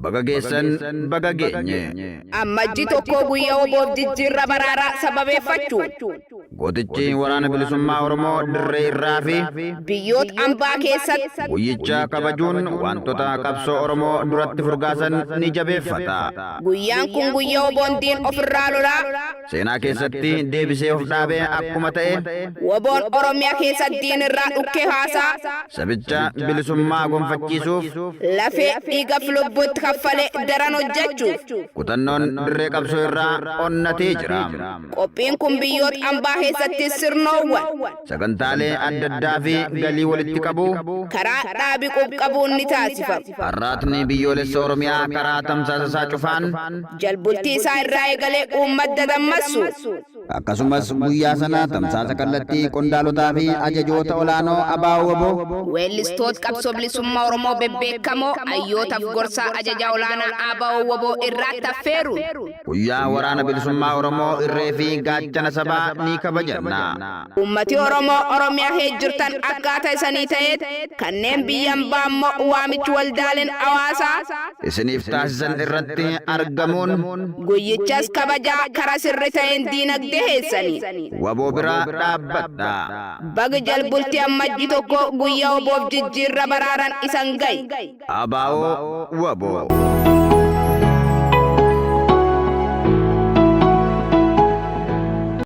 Baga geessan baga geenye. Ammajji tokkoo guyyaa oboof jijjiirra baraaraa sababeeffachuun. Gootichi waraana bilisummaa Oromoo dirree irraa fi. Biyyoot ambaa keessatti. Guyyicha kabajuun waantota qabsoo Oromoo duratti furgaasan ni jabeeffata. Guyyaan kun guyyaa oboon diin ofirraa lolaa. Seenaa keessatti deebisee of dhaabe akkuma ta'e. Woboon Oromiya keessa diin irraa dhukkee haasaa. Sabicha bilisummaa gonfachiisuuf. Lafee, dhiigaf lubbuu itti kaffale daran hojjachuuf. Kutannoon dirree qabsoo irraa onnatee jira. Qophiin kun biyyoot ambaa keessattis sirnoowwan. sagantaalee addaddaa fi galii walitti qabuu. karaa dhaabi qub-qabuun ni taasifama. Arraatni Biyyoolessa Oromiyaa karaa tamsaasa isaa cufaan. jalbultii isaa irraa eegalee uummat dadammassu. Akkasumas guyyaa sana tamsaasa kallattii qondaalotaa fi ajajoota olaanoo ABO-wbo. Weellistoot qabsoo bilisummaa Oromoo bebbeekkamoo, hayyootaf gorsaa ajajaa olaanaa ABO-wbo irraatti affeeruun. Guyyaa Waraana Bilisummaa Oromoo irree fi gaachana sabaa ni kabajanna. Ummati Oromoo Oromiyaa keessa jirtan akkaata isanii ta'eet kanneen biyya ambaa ammoo waamichi waldaaleen hawaasaa. isiniif taasisan irratti argamuun. Guyyichas kabajaa kara sirri ta'een diinagdee keessanii. wbo bira dhaabbadha. Baga Jalbulti Ammajji 1 guyya wbof jijjiirra baraaran isan gaye. Abao Wabo.